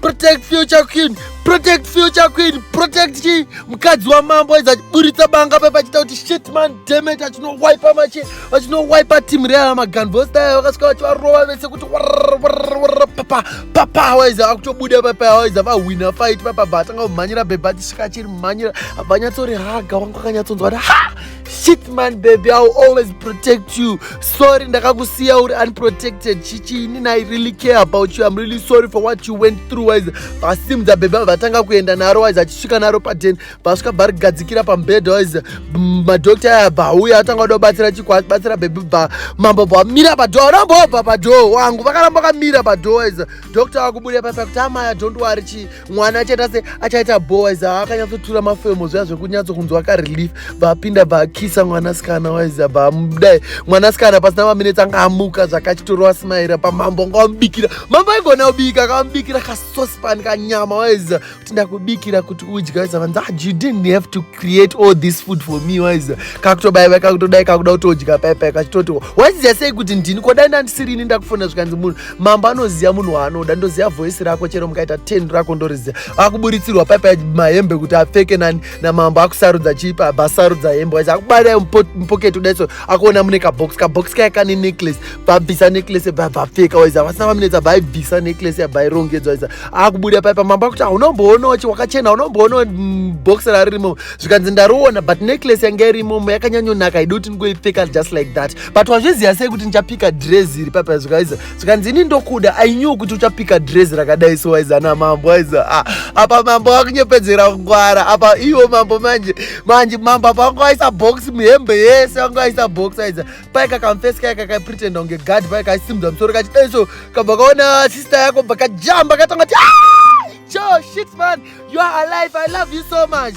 protect future queen protect future queen protect chi mukadzi wamambo aiza chiburitsa banga pepa chita kuti shit man demet achinowipa mache achinowipa team reana maganvostaya vakasvika vachivarova vese kuti papa papa awaiza akutobuda papa awaiza vahwina fight papa bva atanga kumhanyira bhebha achisvika achiri mhanyira vanyatsoriraga wanga akanyatsonzwa kuti ha shit man baby iwill always protect you sorry ndakakusiya uri unprotected chichiini i really care about you im really sorry for what you went through wise vasimudza baby avo vatanga kuenda naro wise achisvika naro paden vasvika bva rigadzikira pambed wise madokta aya bva auya atanga kuda kubatsira chiko abatsira baby bva mambo bva mira pado arambobva pado wangu vakaramba vakamira pado wise dokta vakubuda paipa kuti amaya don't wari chii mwana achaita se achaita boys akanyatsotura mafemo zviya zvekunyatso kunzwa karelief vapinda vakisa mwanasikana waiza vamudai mwanasikana pasina maminetsi anga amuka zvakachitora wasimaira pamambo anga wamubikira mambo aigona kubika akamubikira kasospan kanyama waiza kuti ndakubikira kuti udya waiza vanzi ah, you didn't have to create all this food for me waiza kakutobaiva kakutodai kakuda kutodya paipai kachitoti waiziva sei kuti ndini kodai ndandisirini ndakufona zvikanzi munhu mambo anoziva munhu waanoda ndoziva voice rako chero mukaita ten rako ndoriziva akuburitsirwa paipa mahembe kuti apfeke nani namambo akusarudza chipa abva asarudza hembe waisa akubata mupoketi udaitso akuona mune kabox kabox kaya kane necklace bvabvisa necklace bvabvapfeka waisa vasina vaminetsa bvaibvisa necklace yabvairongedzwa waisa akubuda paipa mambo akuti haunomboonawo chi wakachena haunomboonawo mm, box raririmo zvikanzi ndaroona but necklace yanga irimomo yakanyanyonaka idoti ndingoipfeka just like that but wazviziva sei kuti ndichapika dress iri papa zvikaiza zvikanzi ini ndokuda i knew kuti uchapika dress rakadai so waiza na mambo waiza ah, apa mambo wakunyepedzera kungwara apa iwo mambo manje manje mambo apa wanga waisa box muhembe yese wanga waisa box waiza pai kakamfesi kai kakapretenda kunge guard pai kaisimudza musoro kachidai so kabva kaona sister yako bva kajamba katanga ti ah, jo shit man you are alive i love you so much